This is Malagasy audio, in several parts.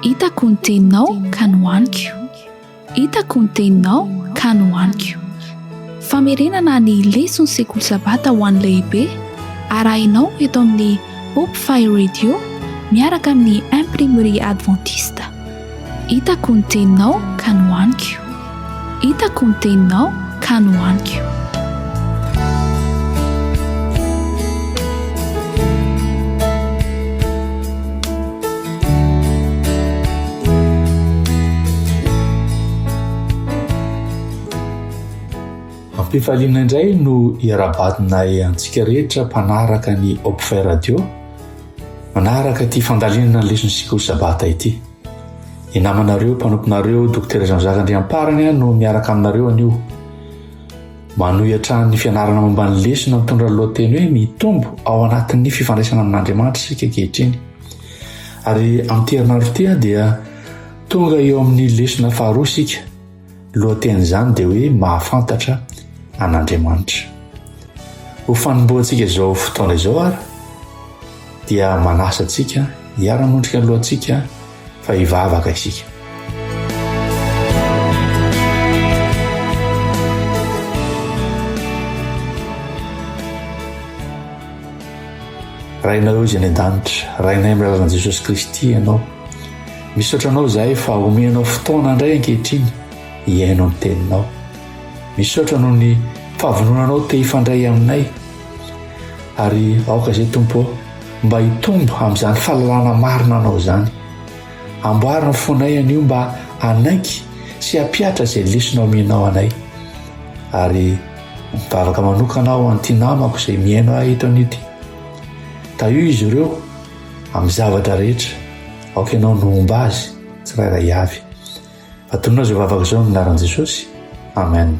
Hitako ny teninao ka nohaniko. Hitako ny teninao ka nohaniko. Famerenana ny leson'ny sekoly sabata ho an'ny lehibe arahinao eto amin'ny Hope Fire Radio miaraka amin'ny Imprimerie Adventiste. Hitako ny teninao ka nohaniko Hitako ny teninao ka nohaniko Ampifaliana indray no iara-badinay antsika rehetra mpanaraka ny Hopfy Radio. Manaraka ity fandalinana ny leson'ny sekoly sabata ity. Ny namanareo, mpanomponareo, dokotera izany zaka andriamparany no miaraka aminareo anio. Manohy hatrany ny fianarana momba ny lesona mitondra lohateny hoe mitombo ao anatin'ny fifandraisana amin'Andriamanitra isika ankehitriny. Ary amin'ity herinandro ity dia tonga eo amin'ny lesona faharoa isika. Lohatenin'izany dia hoe Mahafantatra an'Andriamanitra. Ho fanombohantsika izao fotoana izao ary dia manasa antsika hiara-montrika ny lohantsika fa hivavaka isika. Rainao izay any an-danitra, Rainay amin'ny alalan'i Jesosy Kristy ianao. Misaotra anao izahay fa omenao fotoana indray ankehitriny hihaino ny teninao. Misaotra noho ny fahavononanao te hifandray aminay. Ary aoka izay Tompo mba hitombo amin'izany fahalalana marina anao izany. Amboary ny fonay anio mba hanaiky sy hampihatra izay lesona omenao anay. Ary mivavaka manokana aho an'ity namako izay mihaino ahy eto anio ity. Tahio izy ireo amin'ny zavatra rehetra, aoka ianao no homba azy tsirairay avy. Atonina izao vavaka izao amin'ny anaran'i Jesosy. Amen.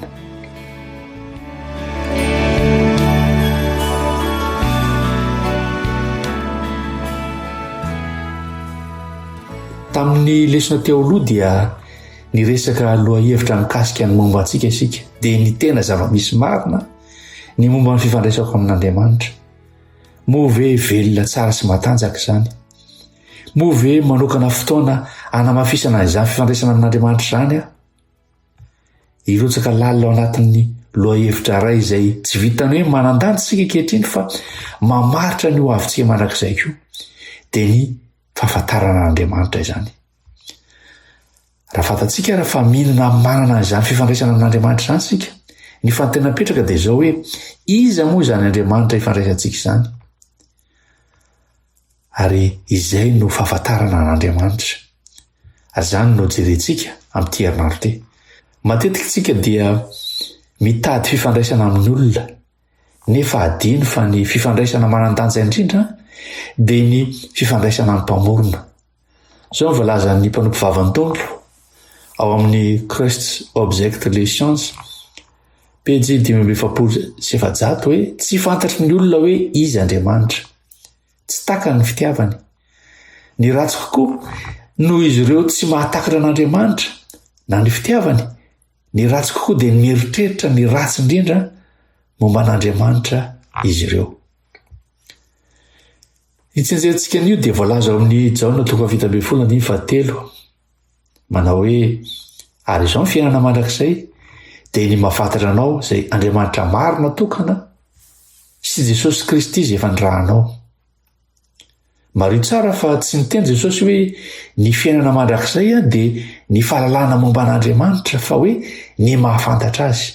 Tamin'ny lesona teo aloha dia niresaka lohahevitra mikasika ny momba antsika isika, dia ny tena zava-misy marina ny momba ny fifandraisako amin'Andriamanitra. Moa ve velona tsara sy matanjaka izany? Moa ve manokana fotoana anamafisana izany fifandraisana amin'Andriamanitra izany aho? Hirotsaka lalina ao anatin'ny lohahevitra iray izay tsy vitan'ny hoe manandanja isika ankehitriny fa mamaritra ny ho avintsika mandrakizay koa, dia ny fahafantarana an'Andriamanitra izany. Raha fantatsika ary fa mino na manana izany fifandraisana amin'Andriamanitra izany isika, ny fanontena mipetraka dia izao hoe iza moa izany Andriamanitra ifandraisantsika izany? Ary izay no fahafantarana an'Andriamanitra. Azany no jerentsika amin'ity herinandro ity. Matetika isika dia mitady fifandraisana amin'ny olona, nefa adino fa ny fifandraisana manan-danja indrindra dia ny fifandraisana amin'ny Mpamorona. Izao ny voalazan'ny mpanompo vavan'ny Tompo ao amin'ny Christ's Object Lessons, pejy dimy amby efapolo sy efajato hoe tsy fantatry ny olona hoe izy Andriamanitra. Tsy takany ny fitiavany. Ny ratsy kokoa, noho izy ireo tsy mahatakatra an'Andriamanitra na ny fitiavany, ny ratsy kokoa dia mieritreritra ny ratsy indrindra momba an'Andriamanitra izy ireo. Ity andiantsika anio dia voalaza ao amin'ny Jaona toko fahafito ambin'ny folo andiny fahatelo. Manao hoe, ary izao ny fiainana mandrakizay, dia ny mafantatra anao izay Andriamanitra marina tokana sy Jesosy Kristy izay efa nirahanao. Mario tsara fa tsy niteny Jesosy hoe ny fiainana mandrakizay dia ny fahalalana momba an'Andriamanitra fa hoe ny mahafantatra azy.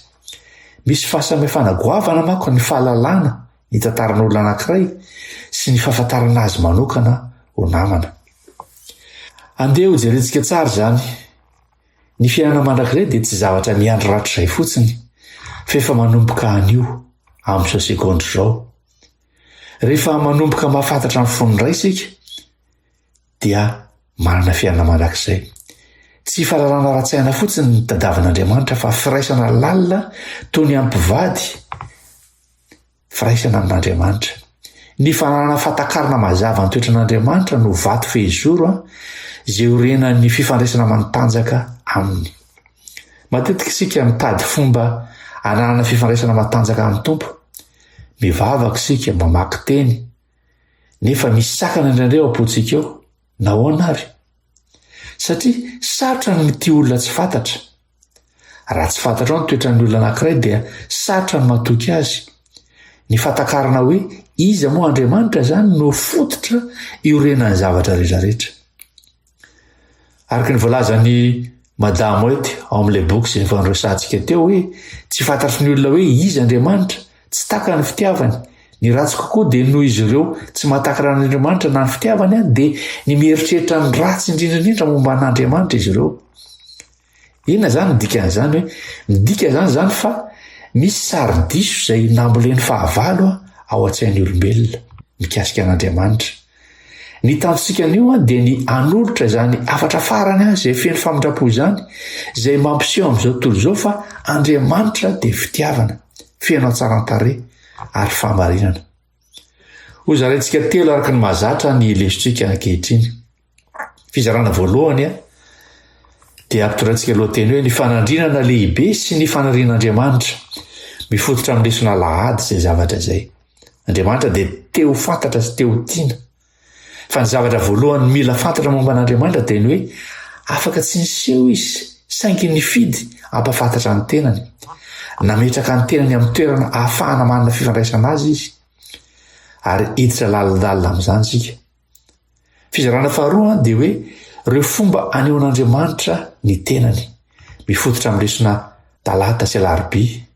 Misy fahasamihafana goavana manko ny fahalalana ny tantaran'olona anankiray sy ny fahafantarana azy manokana ho namana. Andeha hojerentsika tsara izany. Ny fiainana mandrakizay dia tsy zavatra miandry rahatrizay fotsiny, fa efa manomboka anio, amin'izao segondra izao. Rehefa manomboka mahafantatra ny fon'ny Ray isika, dia manana fiainana mandrakizay. Tsy fahalalana ara-tsaina fotsiny ny tadavin'Andriamanitra fa firaisana lalina toy ny ampivady firaisana amin'Andriamanitra. Ny fananana fahatakarana mazava ny toetran'Andriamanitra no vato fehizoro izay orenan'ny fifandraisana matanjaka aminy. Matetika isika mitady fomba ananana fifandraisana matanjaka amin'ny Tompo. Mivavaka isika, mamaky teny, nefa misy sakana indraindray ao am-pontsika ao. Nahoana ary? Satria sarotra ny mitia olona tsy fantatra. Raha tsy fantatrao ny toetran'ny olona anankiray dia sarotra ny matoky azy. Ny fatakarana hoe iza moa Andriamanitra izany no fototra iorenan'ny zavatra rehetra rehetra. Araka ny voalazan'i Madame White ao amin'ilay boky izay efa niresahantsika teo hoe tsy fantatry ny olona hoe iza Andriamanitra, tsy taka ny fitiavany. Ny ratsy kokoa dia noho izy ireo tsy matakana an'Andriamanitra na ny fitiavany dia ny mieritreritra ny ratsy indrindra indrindra momba an'Andriamanitra izy ireo. Inona izany ny dikan'izany hoe midika izany izany fa misy sari-diso izay nambolen'ny fahavalo ao an-tsain'ny olombelona mikasika an'Andriamanitra. Ny tanjonsika anio dia ny hanolotra izany hafatra farany izay feno famindram-po izany izay mampiseho amin'izao tontolo izao fa Andriamanitra dia fitiavana, feno hatsaran-tarehy ary fahamarinana. Hozaraintsika telo araka ny mahazatra ny lesotsika ankehitriny. Fizarana voalohany a, dia ampitondraintsika lohateny hoe ny fanandrinana lehibe sy ny fanarian'Andriamanitra. Mifototra amin'ny lesona alahady izay zavatra izay. Andriamanitra dia te ho fantatra sy te ho tiana. Fa ny zavatra voalohany mila fantatra momba an'Andriamanitra dia ny hoe afaka tsy niseho izy, saingy nifidy ampafantatra ny tenany. Nametraka ny tenany amin'ny toerana ahafahana manana fifandraisana azy izy. Ary hiditra lalindalina amin'izany isika. Fizarana faharoa dia hoe ireo fomba anehoan'Andriamanitra ny tenany, mifototra amin'ny lesona talata sy alarobia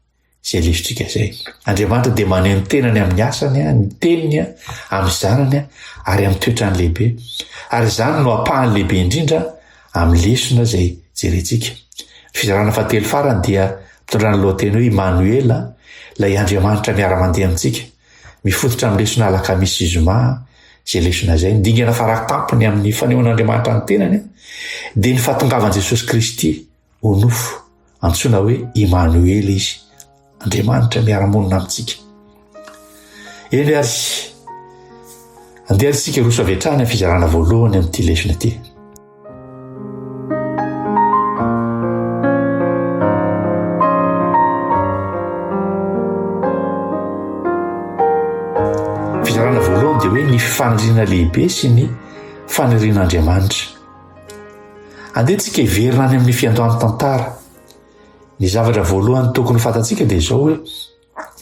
izay lesotsika izay. Andriamanitra dia maneho ny tenany amin'ny asany, ny teniny, amin'ny zanany ary amin'ny toetrany lehibe. Ary izany no apahany lehibe indrindra amin'ny lesona izay jerentsika. Ny fizarana fahatelo farany dia mitondra ny lohateny hoe Imanoela, ilay Andriamanitra miara-mandeha amintsika. Mifototra amin'ny lesona alakamisy sy zoma izay lesona izay. Ny dingana faratampony amin'ny fanehoan'Andriamanitra ny tenany dia ny fahatongavan'i Jesosy Kristy ho nofo. Antsoina hoe Imanoela izy, Andriamanitra miara-monina amintsika. Eny ary, andeha isika hiroso avy hatrany amin'ny fizarana voalohany amin'ity lesona ity. Fizarana voalohany dia hoe ny faniriana lehibe sy ny fanirian'Andriamanitra. Andeha tsika hiverina any amin'ny fiandohan'ny tantara. Ny zavatra voalohany tokony fantatsika dia izao hoe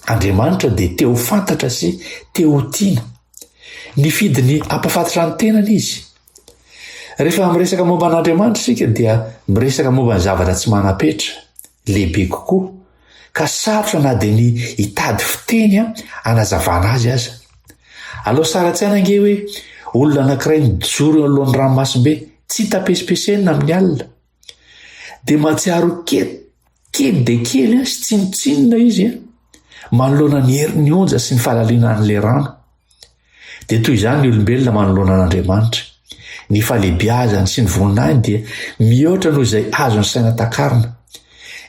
Andriamanitra dia te ho fantatra sy te ho tiana. Nifidy ny hampafantrany tenany izy. Rehefa miresaka momba an'Andriamanitra isika dia miresaka momba ny zavatra tsy manam-petra, lehibe kokoa, ka sarotra na dia ny hitady fiteny hanazavana azy aza. Alao sary an-tsaina ange hoe olona anankiray mijoro eo anoloan'ny ranomasimbe, tsy tapesipesenina amin'ny alina. Dia mahatsiaro kely, kely dia kely sy tsinontsinona izy manoloana ny herin'ny onja sy ny fahalalinan'ilay rano. Dia toy izany ny olombelona manoloana an'Andriamanitra. Ny fahalebiazany sy ny voninahiny dia mihoatra noho izay azon'ny saina takarina.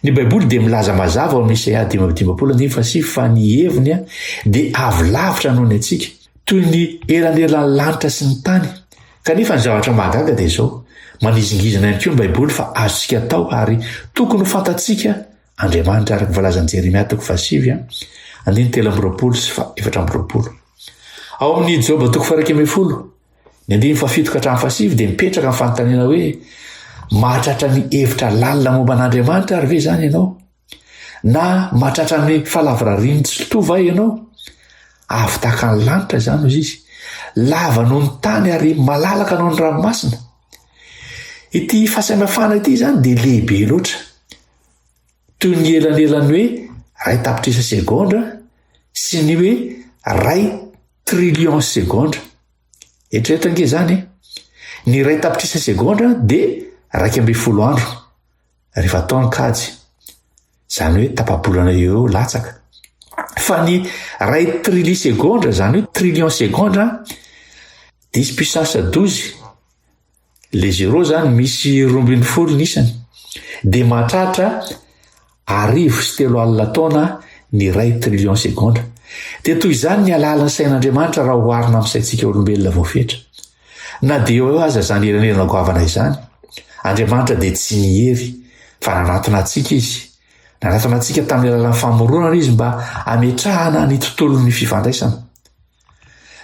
Ny Baiboly dia milaza mazava ao amin'ny Isaia dimy amby dimampolo andininy fahasivy fa ny heviny dia avy lavitra noho ny antsika, toy ny elan'elan'ny lanitra sy ny tany, Kanefa ny zavatra mahagaga dia izao, manizingizina ihany koa ny Baiboly fa azontsika atao ary tokony ho fantatsika Andriamanitra araka ny voalazan'i Jeremia toko fahasivy a, andiny telo amby roapolo sy efatra amby roapolo. Ao amin'ny Joba toko faharaika ambin'ny folo, ny andiny fahafito ka hatramin'ny fahasivy dia mipetraka ny fanontaniana hoe mahatratra ny hevitra lalina momba an'Andriamanitra ary ve izany ianao? Na mahatratra ny falavorarian'ny tsy mpitoha va ianao? Avo tahaka ny lanitra izany hoy izy, lava noho ny tany ary malalaka noho ny ranomasina. Ity fahasamihafana ity izany dia lehibe loatra. Toy ny elanelan'ny hoe ray tapitrisa segondra sy ny hoe ray trillion segondra. Eritreretange izany. Ny ray tapitrisa segondra dia raika ambin'ny folo andro. rehefa atao ny kajy zany hoe tapabolana eo eo latsaka fa ny ray trili segondra zany hoe trillion segondra dis puissance dozy le zero zany misy rombin'ny folo ny isany de mahatratra arivo sy telo alina taona ny ray trillion segondra de toy izany ny alalan'ny sain'andriamanitra raha hoharina amin'ny saintsika olombelona voafetra Na dia eo aza izany elanelana goavana izany, Andriamanitra dia tsy nihery fa nanatona antsika izy. Nanatona antsika tamin'ny alalan'ny famoronana izy mba hametrahana ny tontolon'ny fifandraisana.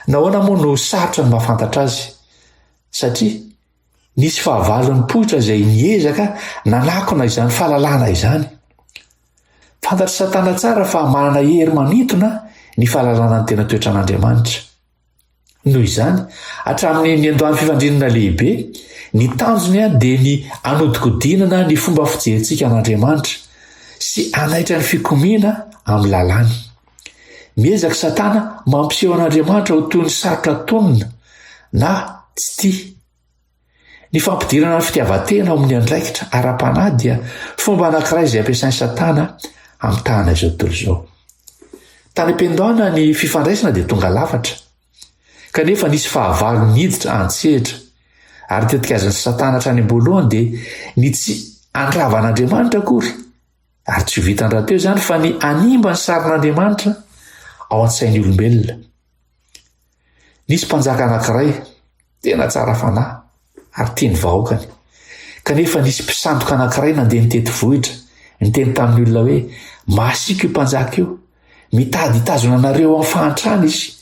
Nahoana moa no sarotra ny mahafantatra azy? Satria nisy fahavalon'ny poitra izay niezaka nanakona izany fahalalana izany. Fantatr'i Satana tsara fa manana hery manintona ny fahalalana ny tena toetran'Andriamanitra. Noho izany, hatramin'ny niandohan'ny fifandrinana lehibe, ny tanjony dia ny hanodikodinana ny fomba fijerintsika an'Andriamanitra sy hanaitra ny fikomiana amin'ny lalàny. Miezaka i Satana mampiseho an'Andriamanitra ho toy ny sarotra tonina na tsy tia. Ny fampidirana ny fitiavan-tena ao amin'ny andraikitra ara-panahy dia fomba anankiray izay ampiasain'i Satana hamitahana izao tontolo izao. Tany am-piandohana ny fifandraisana dia tonga lafatra, kanefa nisy fahavalo niditra an-tsehatra, ary tetikazin'i Satana hatrany am-boalohany dia ny tsy handrava an'Andriamanitra akory, ary tsy ho vitan rahateo izany fa ny hanimba ny sarin'Andriamanitra ao an-tsain'ny olombelona. Nisy mpanjaka anankiray tena tsara fanahy ary tia ny vahoakany. Kanefa nisy mpisandoka anankiray nandeha nitety vohitra, niteny tamin'ny olona hoe, Masiaka io mpanjaka io, mitady hitazona anareo amin'ny fahantrana izy,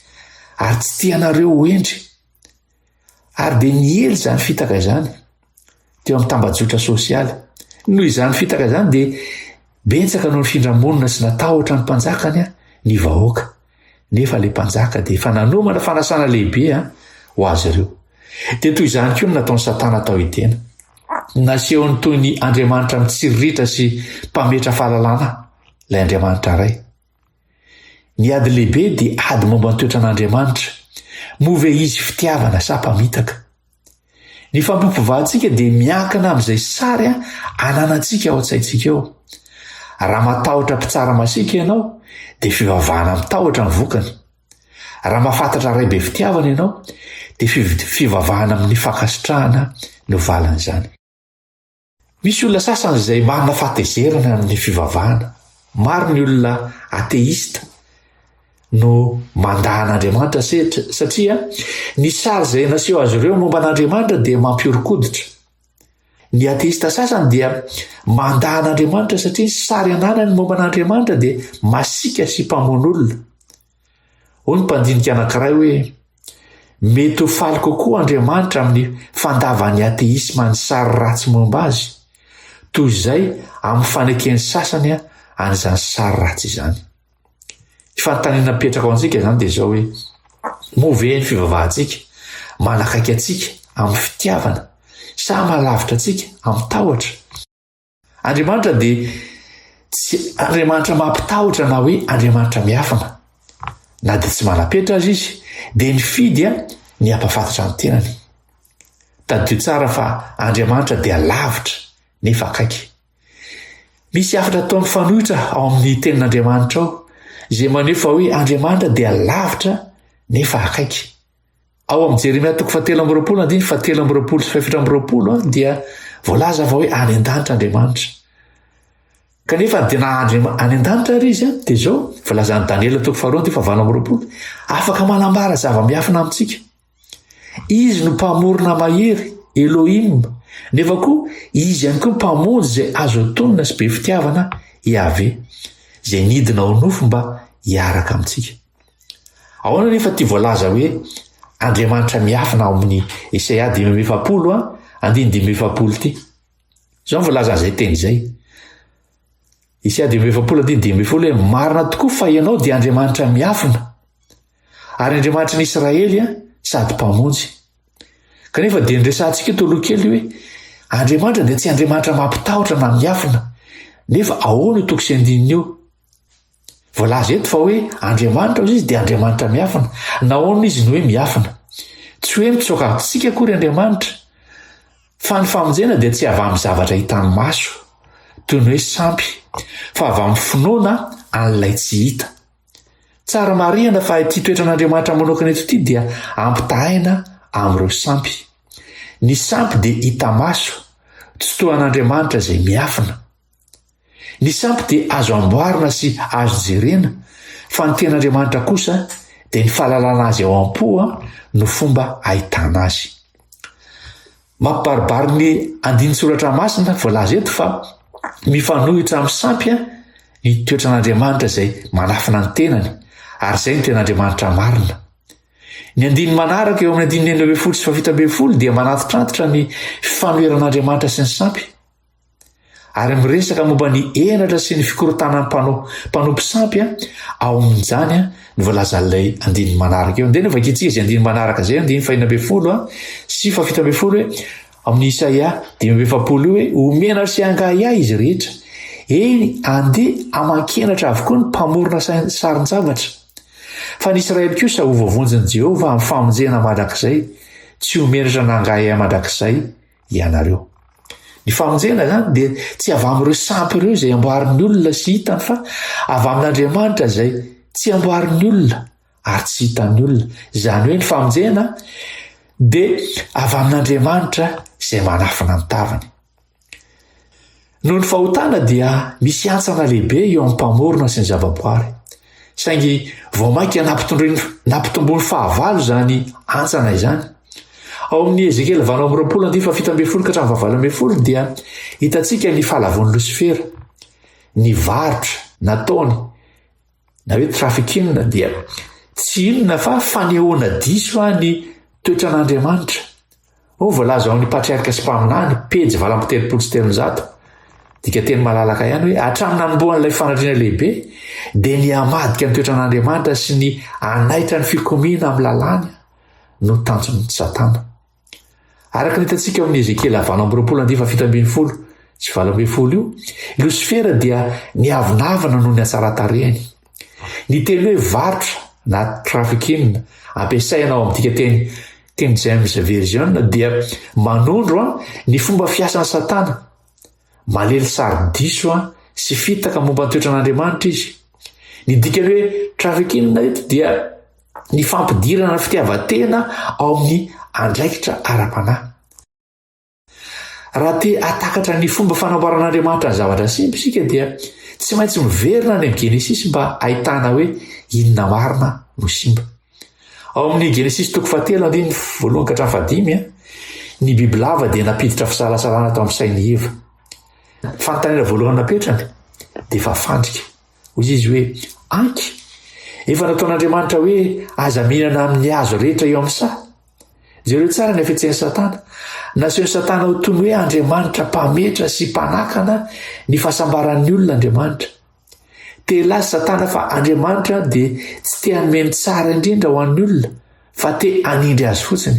ary tsy tia anareo ho hendry. Ary dia niely izany fitaka izany. teo amin'ny tambajotra sosialy. Noho izany fitaka izany dia betsaka no nifindra-monina sy natahotra ny mpanjakany ny vahoaka. Nefa ilay mpanjaka dia efa nanomana fanasana lehibe ho azy ireo. Dia toy izany koa no nataon'i Satana tao Edena. Nasehony toy ny andriamanitra mitsiriritra sy mpametra fahalalana ilay andriamanitra iray. Ny ady lehibe dia ady momba ny toetran'Andriamanitra. Moa ve izy fitiavana sa mpamitaka? Ny fampiopivahantsika dia miankina amin'izay sary ananantsika ao an-tsaintsika ao. Raha matahotra mpitsara masiaka ianao, dia fivavahana mitahotra ny vokany. Raha mahafantatra Ray be fitiavana ianao, dia fivavahana amin'ny fankasitrahana no valin'izany. Misy olona sasany izay manana fahatezerana amin'ny fivavahana. Maro ny olona ateista no mandà an'Andriamanitra sehatra satria ny sary izay naseho azy ireo momba an'Andriamanitra dia mampihoron-koditra. Ny ateista sasany dia mandà an'Andriamanitra satria ny sary ananany momba an'Andriamanitra dia masiaka sy mpamono olona. Hoy ny mpandinika anankiray hoe, Mety ho faly kokoa Andriamanitra amin'ny fandavan'ny ateisma ny sary ratsy momba azy, toy izay amin'ny faneken'ny sasany an'izany sary ratsy izany. Ny fanontaniana mipetraka ho antsika izany dia izao hoe, moa ve ny fivavahantsika manakaiky antsika amin'ny fitiavana sa malavitra antsika amin'ny tahotra? Andriamanitra dia tsy Andriamanitra mampitahotra na hoe Andriamanitra miafina. Na dia tsy manapetra azy izy, dia nifidy ny hampafantatra ny tenany. Tadidio tsara fa Andriamanitra dia lavitra nefa akaiky. Misy hafatra atao mifanohitra ao amin'ny tenin'Andriamanitra ao izay maneho fa hoe Andriamanitra dia lavitra nefa akaiky. Ao amin'ny Jeremia toko fahatelo amby roapolo andiny fahatelo amby roapolo sy fahefatra amby roapolo ah, dia voalaza fa hoe any an-danitra Andriamanitra. Kanefa dia na Andriamanitra any an-danitra ary izy an, ah, dia izao voalazan'i Daniela toko faharoa andiny fahavalo amby roapolo, afaka manambara zava-miafina amintsika. Izy no mpamorona mahery, Elohim, nefa koa izy ihany koa mpamonjy izay azo tonina sy be fitiavana, Yahvé, izay nidina ao nofo mba hiaraka amintsika. Ahoana anefa ity voalaza hoe Andriamanitra miafina ao amin'ny Isaia dimy amby efapolo, andininy dimy amby efapolo ity? Izao ny voalazany izay teny izay. Isaia dimy amby efapolo andininy dimy amby efapolo hoe marina tokoa fa ianao dia Andriamanitra miafina ary Andriamanitry ny Israely sady mpamonjy. Kanefa dia niresahantsika eto aloha kely hoe Andriamanitra dia tsy Andriamanitra mampitahotra na miafina. Nefa ahoana io toko sy andininy io? Voalaza eto fa hoe Andriamanitra hozy izy dia Andriamanitra miafina. Nahoana izy no hoe miafina? Tsy hoe mitsoaka amintsika akory Andriamanitra, fa ny famonjena dia tsy avy amin'ny zavatra hitan'ny maso, toy ny hoe sampy, fa avy amin'ny finoana an'ilay tsy hita. Tsara marihana fa ity toetran'Andriamanitra manokana eto ity dia ampitahaina amin'ireo sampy. Ny sampy dia hita maso, tsy toa an'Andriamanitra izay miafina. Ny sampy dia azo amboarina sy azo jerena fa ny ten'Andriamanitra kosa dia ny fahalalana azy ao am-po no fomba ahitana azy. Mampibaribary ny andinin-tsoratra masina voalaza eto fa mifanohitra amin'ny sampy ny toetran'Andriamanitra izay manafina ny tenany ary izay ny ten'Andriamanitra marina. Ny andininy manaraka eo amin'ny andininy enina ambin'ny folo sy fahafito ambin'ny folo dia manantitrantitra ny fifanoheran'Andriamanitra sy ny sampy. Ary miresaka momba ny henatra sy ny fikorontanan'ny mpanao mpanompo sampy ao amin'izany ny voalazan'ilay andininy manaraka eo. Dia no vakintsika izay andininy manaraka izay, andininy fahina ambin'ny folo sy fahafito ambin'ny folo hoe amin'ny Isaia dimy amby efapolo io hoe omena sy angahiahy izy rehetra. Eny, andeha aman-kenatra avokoa ny mpamorona sarin-javatra. Fa ny Israely kosa ho voavonjin'i Jehovah amin'ny famonjena mandrakizay, tsy ho menatra na angahiahy mandrakizay. ianareo. Ny famonjena izany dia tsy avy amin'ireo sampy ireo izay amboarin'ny olona sy hitany fa avy amin'Andriamanitra izay tsy amboarin'ny olona ary tsy hitan'ny olona. Izany hoe ny famonjena dia avy amin'Andriamanitra izay manafina ny tavany. Noho ny fahotana dia misy hantsana lehibe eo amin'ny Mpamorona sy ny zavaboary. Saingy vao mainka nampitondroiny nampitomboiny fahavalo izany hantsana izany. Ao amin'ny Ezekiela valo amby roapolo andininy fahafito ambin'ny folo ka hatramin'ny fahavalo ambin'ny folo dia hitantsika ny fahalavoan'i Losifera, ny varotra nataony na hoe trafficking dia tsy inona fa fanehoana diso fa ny toetran'Andriamanitra. Ho voalaza ao amin'ny patriarka sy mpaminany, pejy valo amby telopolo sy telonjato, dika teny malalaka ihany hoe hatramin'ny nanombohan'ilay fanadriana lehibe dia ny hamadika ny toetran'Andriamanitra sy ny hanaitra ny fikomiana amin'ny lalàny no tanjon'ny Satana. Araka ny hitantsika ao amin'ny Ezekiela valo amby roapolo andifa fito ambin'ny folo sy valo ambin'ny folo io, i Losifera dia niavonavona noho ny hatsaran-tarehany. Ny teny hoe varotra na trafficking ampiasaina ao amin'ntika teny King James Version dia manondro ny fomba fiasan'i Satana Malely sary diso sy fitaka momba ny toetran'Andriamanitra izy. Ny dikan'ny hoe trafficking eto dia ny fampidirana fitiavan-tena ao amin'ny andraikitra ara-panahy. Raha te hatakatra ny fomba fanamboaran'Andriamanitra ny zavatra simba isika dia tsy maintsy miverina any amin'ny Genesisy mba ahitana hoe inona marina no simba. Ao amin'ny Genesisy toko fahatelo andininy voalohany ka hatramin'ny fahadimy, ny bibilava dia nampiditra fisalasalana tao amin'ny sain'i Eva. Ny fanontaniana voalohany napetrany dia efa fandrika. Hoy izy hoe, Anky, efa nataon'Andriamanitra hoe aza mihinana amin'ny hazo rehetra eo amin'ny saha. Jereo tsara ny hafetsen'i Satana. Nasehon'i Satana ho toy ny hoe Andriamanitra mpametra sy mpanakana ny fahasambaran'ny olona Andriamanitra. Te hilaza Satana fa Andriamanitra dia tsy te hanome ny tsara indrindra ho an'ny olona fa te hanindry azy fotsiny.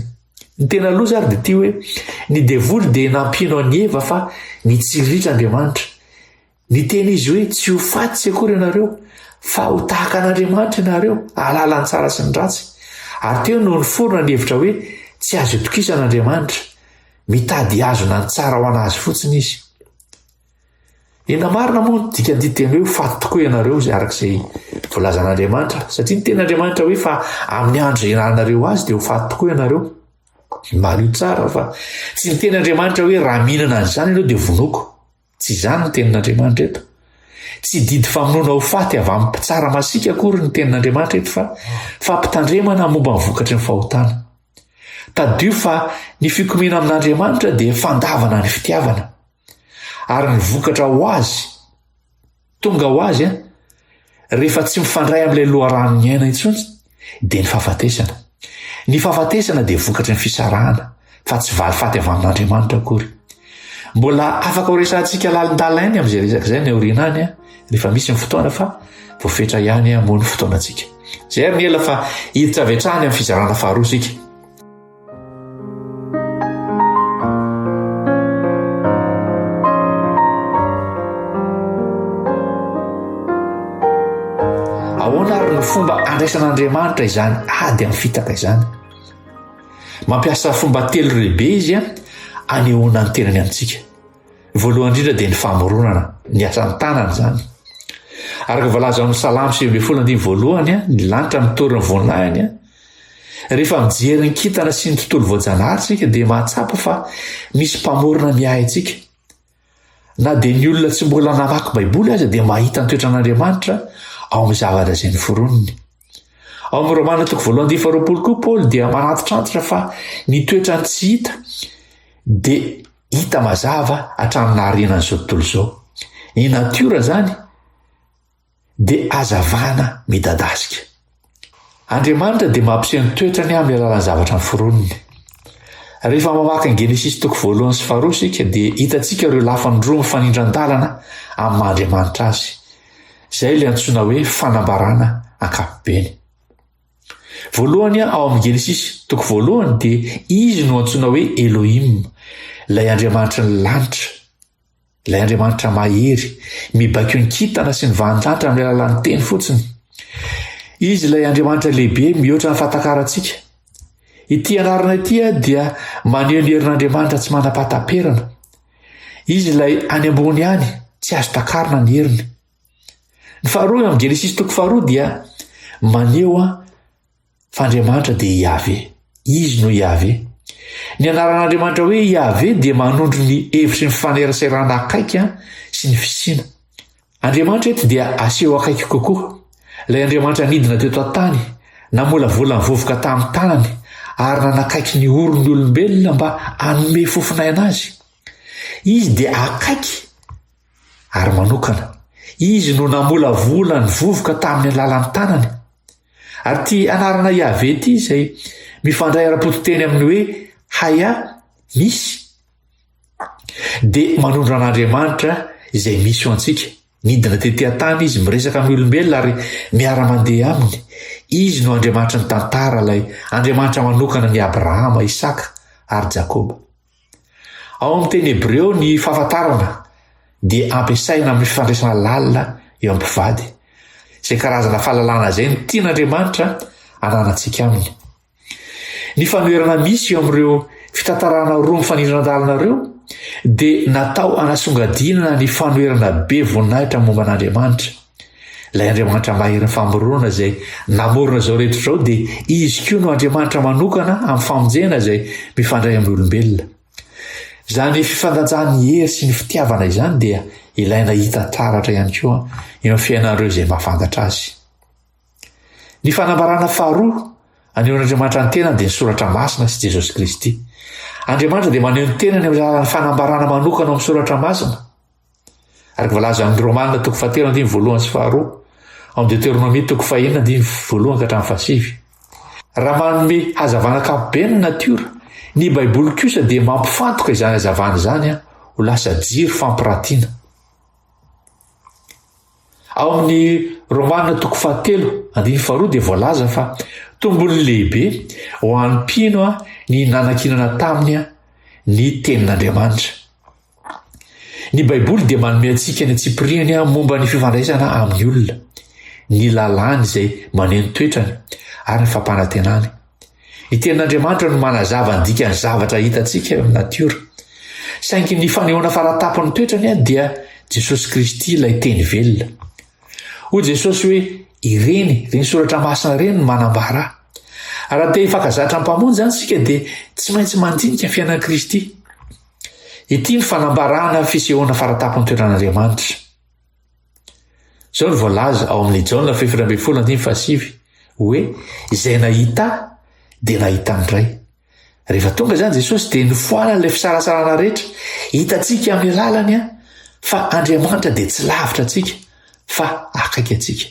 Ny tena loza ary dia ity hoe ny devoly dia nampino an'i Eva fa mitsiriritra Andriamanitra. Niteny izy hoe tsy ho faty tsy akory ianareo fa ho tahaka an'Andriamanitra ianareo ahalala ny tsara sy ny ratsy. Ary teo no niforona ny hevitra hoe tsy azo itokisana Andriamanitra. Mitady hazona ny tsara ho an'azy fotsiny izy. Ena marina moa ny dikan-diteny hoe faty tokoa ianareo izay araka izay volazan'Andriamanitra satria ny teny Andriamanitra hoe fa amin'ny andro izay iananareo azy dia ho faty tokoa ianareo. Malio tsara fa tsy ny teny Andriamanitra hoe raha mihinana an'izany ianao dia vonoako. Tsy izany ny tenin'Andriamanitra eto. Tsy didy famonoana ho faty avy amin'ny mpitsara masiaka akory ny tenin'Andriamanitra eto fa fampitandremana momba ny vokatry ny fahotana. Tadidio fa ny fikomena amin'Andriamanitra dia fandavana ny fitiavana. Ary ny vokatra ho azy, tonga ho azy, rehefa tsy mifandray amin'ilay loharanon'ny aina intsony, dia ny fahafatesana. Ny fahafatesana dia vokatry ny fisarahana, fa tsy valifaty avy amin'Andriamanitra akory. Mbola afaka horesahantsika lalindalainy amin'izay resaka izay ny aoriana any, rehefa misy ny fotoana fa voafetra ihany moa ny fotoanantsika. Izay ary ny ela fa hiditra avy hatrany amin'ny fizarana faharoa isika. ahoana ary ny fomba andraisan'andriamanitra izany ady amin'ny fitaka izany mampiasa fomba telo rehibe izy a anehoana ny tenany amintsika voalohany indrindra dia ny famoronana ny asan'ny tanana izany araka voalaza amin'ny salamo sivy ambin'ny folo andiny voalohany a ny lanitra mitory ny voninahiny a Rehefa mijery ny kintana sy ny tontolo voajanahary isika dia mahatsapa fa misy Mpamorona miahy antsika. Na dia ny olona tsy mbola namaky Baiboly aza dia mahita ny toetran'Andriamanitra ao amin'ny zavatra izay noforoniny. Ao amin'ny Romana toko voalohany dia faharoapolo koa Paoly dia manantitrantitra fa ny toetrany tsy hita dia hita mazava hatramin'ny naharinan'izao tontolo izao. Ny natiora izany dia hazavana midadasika. Andriamanitra dia mampiseho ny toetrany amin'ny alalan'ny zavatra noforoniny. Rehefa mamaky ny Genesisy toko voalohany sy faharoa isika dia hitantsika ireo lafiny roa mifanindran-dalana amin'ny maha-Andriamanitra azy. Izay ilay antsoina hoe fanambarana ankapobeny. Voalohany ao amin'ny Genesisy toko voalohany dia izy no antsoina hoe Elohim, ilay Andriamanitry ny lanitra. Ilay Andriamanitra mahery, mibaiko ny kintana sy ny vahan-danitra amin'ny alalan'ny teny fotsiny. Izy ilay Andriamanitra lehibe mihoatra ny fatakarantsika. Ity anarana ity dia maneho ny herin'Andriamanitra tsy manapataperana. Izy ilay any ambony ihany, tsy azo takarina ny heriny. Ny faharoa amin'ny Genesisy toko faharoa dia maneho Fa Andriamanitra dia Iaveh. Izy no Iaveh. Ny anaran'Andriamanitra hoe Iaveh dia manondro ny hevitry ny faneraserana akaiky sy ny fisiana. Andriamanitra eto dia aseho akaiky kokoa. Ilay Andriamanitra nidina teto an-tany, namolavola ny vovoka tamin'ny tanany ary nanakaiky ny oron'ny olombelona mba hanome fofon'aina azy. Izy dia akaiky. Ary manokana, Izy no namolavola ny vovoka tamin'ny alalan'ny tanany. Ary ity anarana Yaveh ity izay mifandray ara-pototeny amin'ny hoe Haya, misy, dia manondro an'Andriamanitra izay misy ho antsika. Nidina tety an-tany izy miresaka amin'ny olombelona ary miara-mandeha aminy. Izy no Andriamanitry ny tantara, ilay Andriamanitra manokana ny Abrahama, Isaka ary Jakoba. Ao amin'ny teny hebreo, ny fahafantarana dia ampiasaina amin'ny fifandraisana lalina eo amin'ny mpivady. Izay karazana fahalalana izay no tian'Andriamanitra ananantsika aminy. Ny fanoherana misy eo amin'ireo fitantarana roa mifanindran-dalana ireo dia natao hanasongadinana ny fanoherana be voninahitra momba an'Andriamanitra. Ilay Andriamanitra maherin'ny famoronana izay namorona izao rehetra izao dia izy koa no Andriamanitra manokana amin'ny famonjena izay mifandray amin'ny olombelona. Izany fifandanjan'ny hery sy ny fitiavana izany dia ilaina hita taratra ihany koa eo amin'ny fiainan'ireo izay mahafantatra azy. Ny fanambarana faharoa anehoan'Andriamanitra ny tenany dia ny soratra masina sy Jesosy Kristy. Andriamanitra dia maneho ny tenany amin'ny alalan'ny fanambarana manokana amin'ny soratra masina. Araka voalaza ao amin'ny Romana toko fahatelo andiny voalohany sy faharoa, ao amin'ny Deteronomia toko fahenina andiny voalohany ka hatramin'ny fahasivy. Raha manome hazavana ankapobeny ny natiora, ny Baiboly kosa dia mampifantoka izany hazavana izany ho lasa jiro fampiratiana. Ao amin'ny Romana toko fahatelo andiny faharoa dia voalaza fa tombony lehibe ho an'ny mpino ny nanankinana taminy ny tenin'Andriamanitra. Ny Baiboly dia manome antsika ny antsipiriany momba ny fifandraisana amin'ny olona, ny lalàny izay maneho ny toetrany, ary ny fampanantenany. Ny tenin'Andriamanitra no manazava ny dikan'ny zavatra hitantsika eo amin'ny natiora. Saingy ny fanehoana faratapon'ny toetrany dia Jesosy Kristy ilay teny velona. Hoy Jesosy hoe, ireny, ireny soratra masina ireny no manambara. Raha te hifankazatra amin'ny Mpamonjy antsika dia tsy maintsy mandinika fiainan'i Kristy. Ity ny fanambarana ny fisehoana faratapony toeran'Andriamanitra. Izao no voalaza ao amin'ny Jaona fefatra ambin'ny folo andiny fahasivy hoe izay nahita dia nahita ny Ray. Rehefa tonga izany Jesosy dia nifoana ilay fisarasarana rehetra. Hitantsika amin'ny lalany fa Andriamanitra dia tsy lavitra antsika fa akaiky antsika.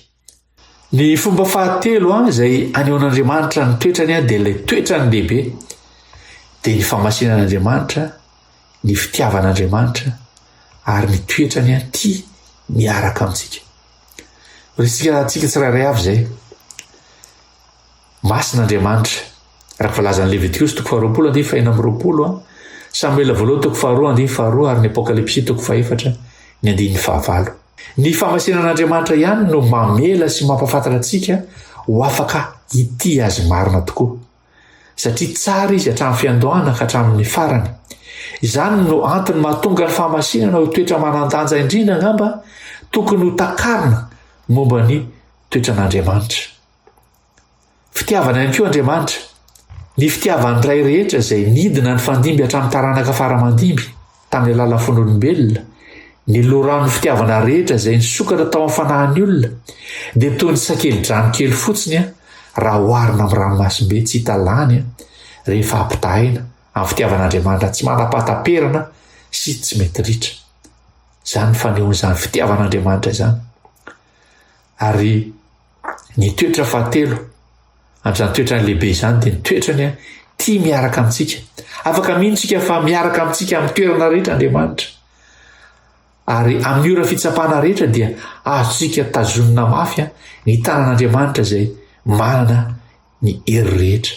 Ny fomba fahatelo an izay anehoan'Andriamanitra ny toetrany an dia ilay toetrany lehibe dia ny famasinan'Andriamanitra, ny fitiavan'Andriamanitra ary ny toetrany an tia miaraka amintsika. Resika antsika tsirairay avy izay. Masina Andriamanitra. Raha voalazan'ny Levitikosy toko faharoapolo andiany fahena amby roapolo, Samoela voalohany toko faharoa andiany faharoa ary ny Apokalypsy toko fahefatra ny andininy fahavalo. Ny famasinan'Andriamanitra ihany no mamela sy mampafantatra antsika ho afaka hitia azy marina tokoa. Satria tsara izy hatramin'ny fiandohana ka hatramin'ny farany. Izany no antony mahatonga ny famasinana ho toetra manan-danja indrindra angamba tokony ho takarina momba ny toetran'Andriamanitra. Fitiavana ihany koa Andriamanitra. Ny fitiavan'ny Ray rehetra izay nidina nifandimby hatramin'ny taranaka fara aman-dimby tamin'ny alalan'ny fon'olombelona, ny loharanon'ny fitiavana rehetra izay nisokatra tao amin'ny fanahin'ny olona, dia toy ny sakeli-drano kely fotsiny raha oharina amin'ny ranomasimbe tsy hita lany rehefa ampitahaina amin'ny fitiavan'Andriamanitra tsy manam-pahataperana sy tsy mety ritra. Izany fanehoan'izany fitiavan'Andriamanitra izany. Ary Ny toetra fahatelo, an'izany toetrany lehibe izany, dia ny toetrany a, tia miaraka amintsika. Afaka mino tsika fa miaraka amintsika amin'ny toerana rehetra Andriamanitra. Ary amin'ny ora fitsapana rehetra dia azontsika tazonina mafy a, ny tanan'Andriamanitra izay manana ny hery rehetra.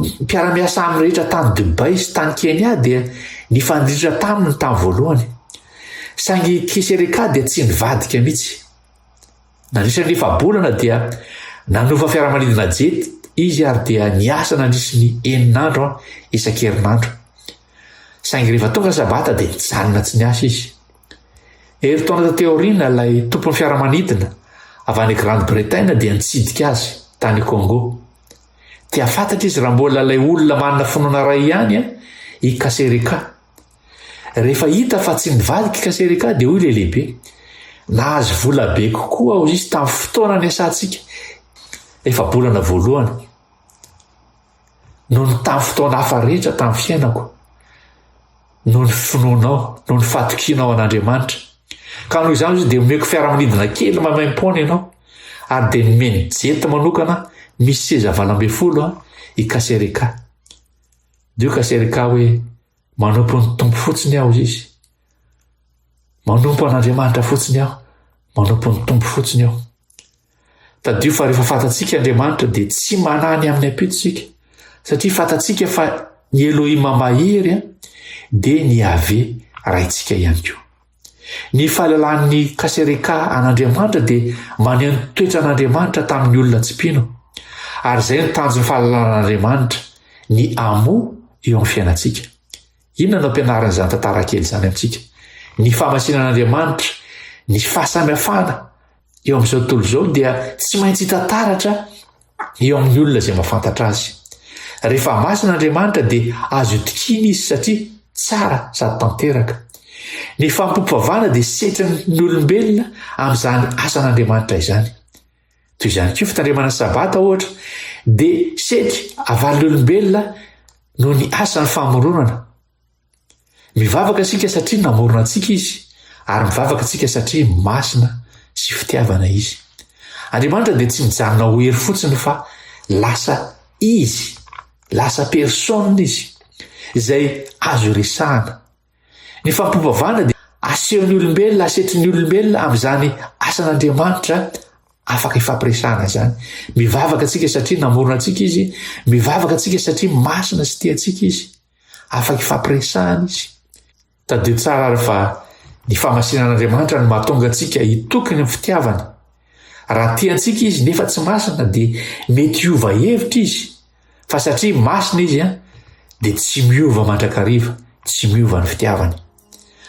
Ny mpiara-miasa aminy rehetra tany Dubai sy tany Kenya dia nifandrindra taminy tamin'ny voalohany. Saingy Kisereka dia tsy nivadika mihitsy. Nandritra ny efa-bolana dia nanova fiaramanidina jet izy ary dia niasa nandritra ny enina andro isan-kerinandro. Saingy rehefa tonga Sabata dia nijanona tsy niasa izy. Herintaona taty aoriana ilay tompon'ny fiaramanidina avy any Grande-Bretagne dia nitsidika azy tany Congo. Dia fantatra izy raha mbola ilay olona manana finoana iray ihany an, i Kasereka. Rehefa hita fa tsy mivadika i Kasereka dia hoy ilay lehibe, nahazo vola be kokoa aho izy tamin'ny fotoana niasantsika efa bolana voalohany noho ny tamin'ny fotoana hafa rehetra tamin'ny fiainako. noho ny finoanao, noho ny fatokianao an'Andriamanitra. Ka noho izany izy dia omeko fiaramanidina kely maimaim-poana ianao, ary dia nomeny jety manokana misy seza valo ambin'ny folo an, i Kasereka. Dio Kasereka hoe manompo ny Tompo fotsiny aho izy. Manompo an'Andriamanitra fotsiny aho, manompo ny Tompo fotsiny aho. Tadidio fa rehefa fantatsika Andriamanitra dia tsy manahy ny amin'ny ampito isika, satria fantatsika fa ny Elohima mahery dia ny Yaveh raintsika ihany koa. Ny fahalalan'ny kasereka an'Andriamanitra dia maneho ny toetran'Andriamanitra tamin'ny olona tsy mpino, ary izay no tanjon'ny fahalalan'Andriamanitra, ny amo eo amin'ny fiainantsika. Inona no ampianarin'izany tantara kely izany amintsika? Ny famasinan'Andriamanitra, ny fahasamihafana eo amin'izao tontolo izao dia tsy maintsy hita taratra eo amin'ny olona izay mafantatra azy. Rehefa masina Andriamanitra dia azo itikina izy satria tsara sady tanteraka. Ny fampompoavana dia setrin'ny olombelona amin'izany asan'Andriamanitra izany. Toy izany koa fitandremana ny sabata ohatra dia seky avalon'olombelona noho ny asan'ny famoronana. Mivavaka isika satria namorona antsika izy ary mivavaka isika satria masina sy fitiavana izy. Andriamanitra dia tsy mijanona ho hery fotsiny fa lasa izy, lasa personne izy izay azo resahana. Ny fampivavahana dia asehon'ny olombelona, asetrin'ny olombelona amin'izany asan'Andriamanitra afaka ifampiresahana izany. Mivavaka antsika satria namorona antsika izy, mivavaka antsika satria masina sy tia antsika izy, afaka ifampiresahana izy. Tadidio tsara ary fa ny famasinan'Andriamanitra no mahatonga antsika hitoky ny fitiavany. Raha tiantsika izy nefa tsy masina dia mety hiova hevitra izy fa satria masina izy an dia tsy miova mandrakariva, tsy miova ny fitiavany.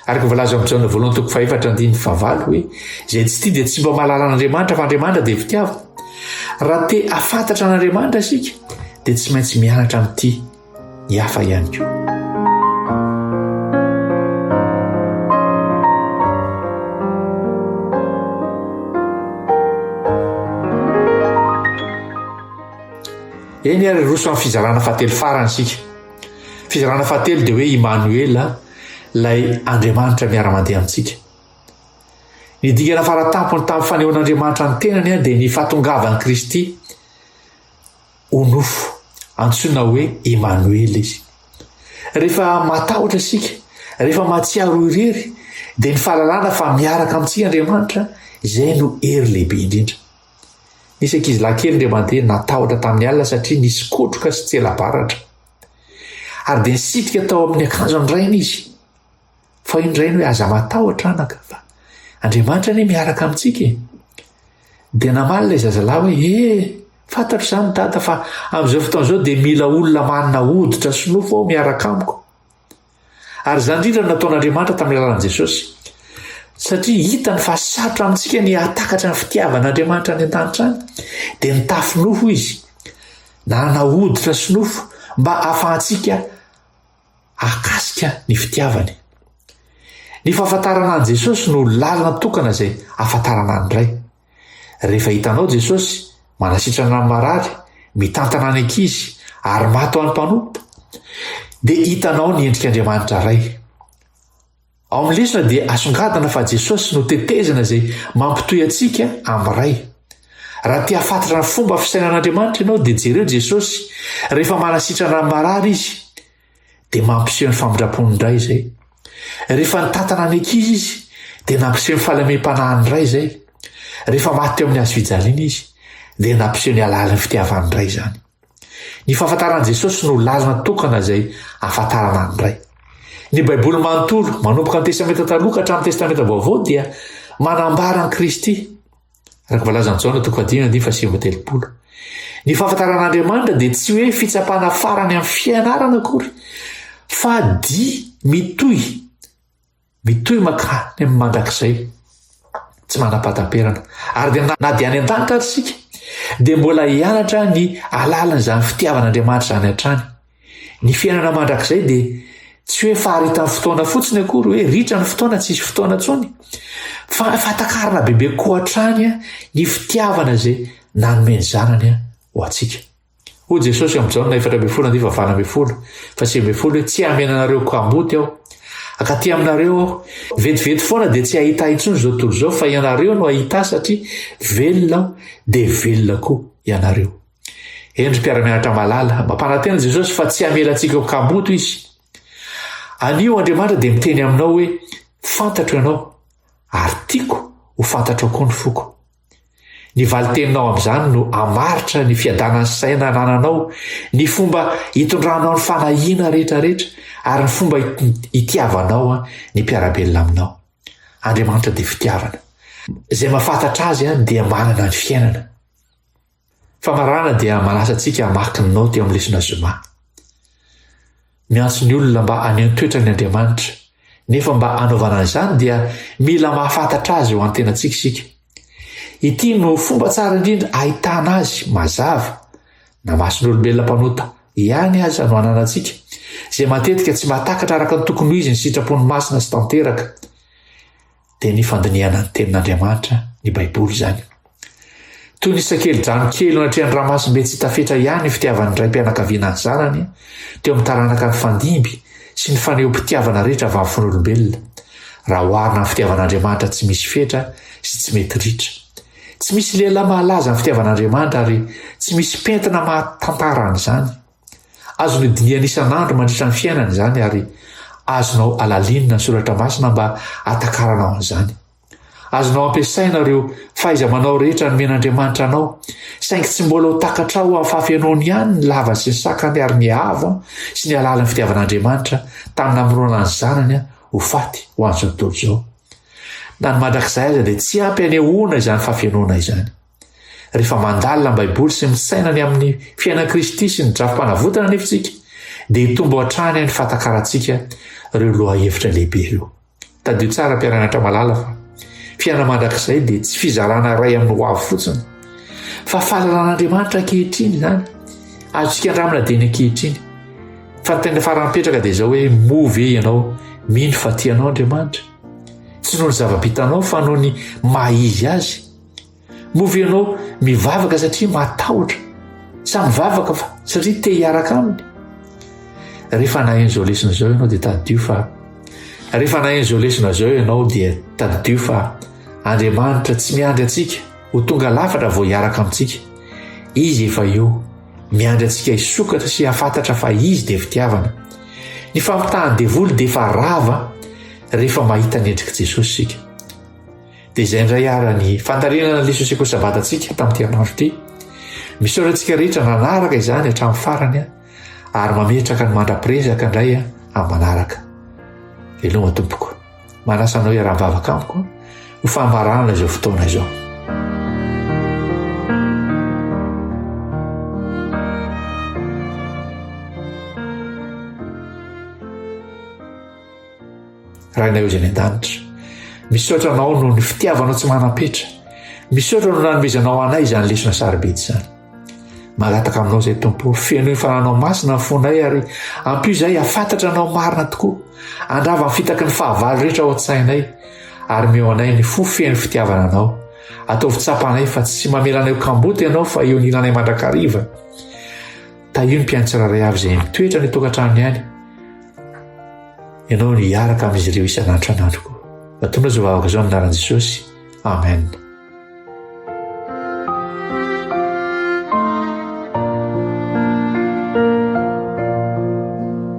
Araka voalaza amin'ny Jaona voalohany toko fahefatra andininy fahavalo hoe izay tsy tia dia tsy mba mahalala an'Andriamanitra fa Andriamanitra dia fitiavana. Raha te afantatra an'Andriamanitra isika dia tsy maintsy mianatra mitia. ny hafa ihany koa. Eny ary hiroso amin'ny fizarana fahatelo farany isika. Fizarana fahatelo dia hoe Imanoela, ilay Andriamanitra miara-mandeha amintsika. Ny dingana fara tampony tamin'ny fanehoan'Andriamanitra ny tenany dia ny fahatongavan'i Kristy. ho nofo. Antsoina hoe Emanoela izy. Rehefa matahotra isika, rehefa mahatsiaro irery, dia ny fahalalana fa miaraka amintsika Andriamanitra, izay no hery lehibe indrindra. Nisy ankizy lahy kely indray mandeha natahotra tamin'ny alina satria nisy kotroka sy tsela-baratra. Ary dia nisitrika tao amin'ny akanjon'ny rainy izy. Fa indray ny hoe aza matahotra anaka fa Andriamanitra anie miaraka amintsika e. Dia namaly ilay zazalahy hoe ee eh, fantatro izany dada fa amin'izao fotoana izao dia mila olona manana hoditra sy nofo aho miaraka amiko. Ary izany indrindra no nataon'Andriamanitra tamin'ny alalan'i Jesosy. Satria hitany fa sarotra amintsika ny hatakatra ny fitiavan'Andriamanitra any an-danitra any, dia nitafy nofo izy, nanana hoditra sy nofo mba hahafahantsika ahakasika ny fitiavany. Ny fahafantarana an'i Jesosy no lalana tokana izay ahafantarana ny Ray. Rehefa hitanao Jesosy, manasitrana ny marary, mitantana ny ankizy, ary maty ho an'ny mpanompo, dia hitanao ny endrik'Andriamanitra Ray. Ao amin'ny lesona dia asongadina fa Jesosy no tetezana izay mampitohy antsika amin'ny Ray. Raha te hafantatra ny fomba fisainan'Andriamanitra ianao dia jereo Jesosy rehefa manasitrana amin'ny marary Izy dia mampiseho ny famindrapony indray izay. Rehefa nitantana ny ankizy Izy dia nampiseho ny fahalemem-panahiny indray izay. Rehefa maty teo amin'ny hazofijaliana Izy dia nampiseho ny halalin'ny fitiavany indray izany. Ny fahafantaran'i Jesosy no lalana tokana izay ahafantarana ny Ray. Ny Baiboly manontolo, manomboka ny Testamenta Taloha ka hatramin'ny Testamenta Vaovao dia manambara an'i Kristy. Araka voalazan'i Jaona toko fahadimy andiny fahasivy telopolo. Ny fahafantaran'Andriamanitra dia tsy hoe fitsapana farany amin'ny fianarana akory, fa dia mitohy Mitohy mankany amin'ny mandrakizay tsy manam-pahataperana. Ary dia na dia any an-danitra ary isika, dia mbola hianatra ny alalan'izany fitiavan'Andriamanitra izany hatrany. Ny fiainana mandrakizay dia tsy hoe faharitan'ny fotoana fotsiny akory, hoe ritra ny fotoana, tsisy fotoana tsony, fa fahatakarana bebe koa hatrany ny fitiavana izay nanome ny zanany ho antsika. Hoy Jesosy amin'i Jaona efatra ambin'ny folo andivo valo ambin'ny folo fa sivy ambin'ny folo hoe tsy hamena anareo kamboty aho. Akaty aminareo aho. Vetivety foana dia tsy hahita ahy intsony izao tontolo izao fa ianareo no hahita satria velona aho dia velona koa ianareo. Endry mpiara-mianatra malala, mampanantena Jesosy fa tsy hamela antsika ho kamboty izy. Anio Andriamanitra dia miteny aminao hoe fantatro ianao ary tiako ho fantatrao koa ny foko. Ny valin-teninao amin'izany no hamaritra ny fiadanan'ny saina anananao, ny fomba hitondranao ny fanahiana rehetrarehetra ary ny fomba hitiavanao ny mpiara-belona aminao. Andriamanitra dia fitiavana. Izay mahafantatra azy dia manana ny fiainana. Famarana dia manasa antsika hamaky ny naoty amin'ny lesona zoma. Miantso ny olona mba haneho ny toetrany Andriamanitra, nefa mba hanaovana an'izany dia mila mahafantatra azy eo an-tenantsika isika. Ity no fomba tsara indrindra ahitana azy mazava, na mason'olombelona mpanota ihany aza no ananantsika, izay matetika tsy mahatakatra araka ny tokony ho izy ny sitrapon'ny masina sy tanteraka. dia ny fandinihana ny tenin'Andriamanitra, ny Baiboly izany. Toy ny sakeli-drano kely eo anatrehan'ny ramasimbe tsy hita fetra ihany ny fitiavan'ny raim-pianakaviana ny zanany, teo amin'ny taranaka nifandimby sy ny fanehom-pitiavana rehetra vafofon'olombelona, raha oharina amin'ny fitiavan'Andriamanitra tsy misy fetra sy tsy mety ritra. Tsy misy lehilahy mahalaza ny fitiavan'Andriamanitra ary tsy misy pentina mahatantara an'izany. Azonao dinihana isan'andro mandritra ny fiainana izany ary azonao alalinina ny soratra masina mba hatakaranao an'izany. Azonao ampiasaina ireo fahaiza-manao rehetra nomen'Andriamanitra anao, saingy tsy mbola ho takatrao amin'ny fahafenoany ihany ny lavany sy ny sakany ary ny avo sy ny alalan'ny fitiavan'Andriamanitra tamin'ny namorona ny zanany ho faty ho an'izao tontolo izao. Na ny mandrakizay aza dia tsy ampy anehoana izany fahafenoana izany. Rehefa mandalina ny Baiboly sy misaina ny amin'ny fiainan'i Kristy sy ny drafi-panavotana anefa isika, dia hitombo hatrany amin'ny fahatakarantsika ireo lohahevitra lehibe ireo. Tadidio tsara mpiara-mianatra malala fa fiainana mandrakizay dia tsy fizarana iray amin'ny hoavy fotsiny, fa fahalalan'Andriamanitra ankehitriny izany. Azontsika andramana dia ny ankehitriny. Fa ny tena farany mipetraka dia izao hoe moa ve ianao mino fa tianao Andriamanitra? Tsy noho ny zava-bitanao fa noho ny maha izy azy. Moa ve ianao mivavaka satria matahotra sa mivavaka fa satria te hiaraka aminy? Rehefa naheno izao lesona izao ianao dia tadidio fa rehefa naheno izao lesona izao ianao dia tadidio fa Andriamanitra tsy miandry antsika ho tonga lafatra vao hiaraka amintsika. Izy efa eo miandry antsika hisokatra sy hafantatra fa izy dia fitiavana. Ny fampitahan'ny devoly dia efa rava rehefa mahita ny endrik'i Jesosy isika. Dia izay indray ara ny fandalinana ny lesosekoly sabatatsika tamin'ity anandro ity. Misaotra antsika rehetra nanaraka izany hatramin'ny farany ary mametraka ny mandra-pirezaka indray amin'ny manaraka. Veloma tompoko. Manasa anao iaraha-bavaka amiko ho fambarana izao fotoana izao. Rainay Ozy any an-danitra. Misaotra anao noho ny fitiavanao tsy manam-petra. Misaotra no nanomezanao anay izany lesona sarobidy izany. Magataka aminao izay tompo, feno ny fananao masina ny fonay ary ampio izay hafantatra anao marina tokoa. Andrava ny fitaky ny fahavalo rehetra ao an-tsainay ary meo anay ny fo feno fitiavana anao. Ataovy tsapanay fa tsy mamelanay kamboty ianao fa eo nilanay mandrakariva. Tahio ny mpiaino tsirairay avy izay mitoetra any an-tokantranony any. Ianao no hiaraka amin'izy ireo isan'andro isan'andro koa. Atonao izao vavaka izao amin'ny anaran'i Jesosy. Amen.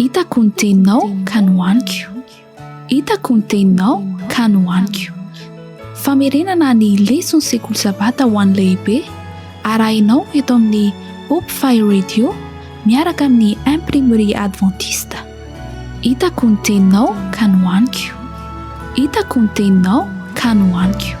Hitako ny teninao ka nohaniko. Hitako ny teninao ka nohaniko. Famerenana ny leson'ny sekoly sabata ho an'ny lehibe arahinao eto amin'ny Hope Fire Radio miaraka amin'ny Imprimerie Adventiste. Hitako ny teninao ka nohaniko Hitako ny teninao ka nohaniko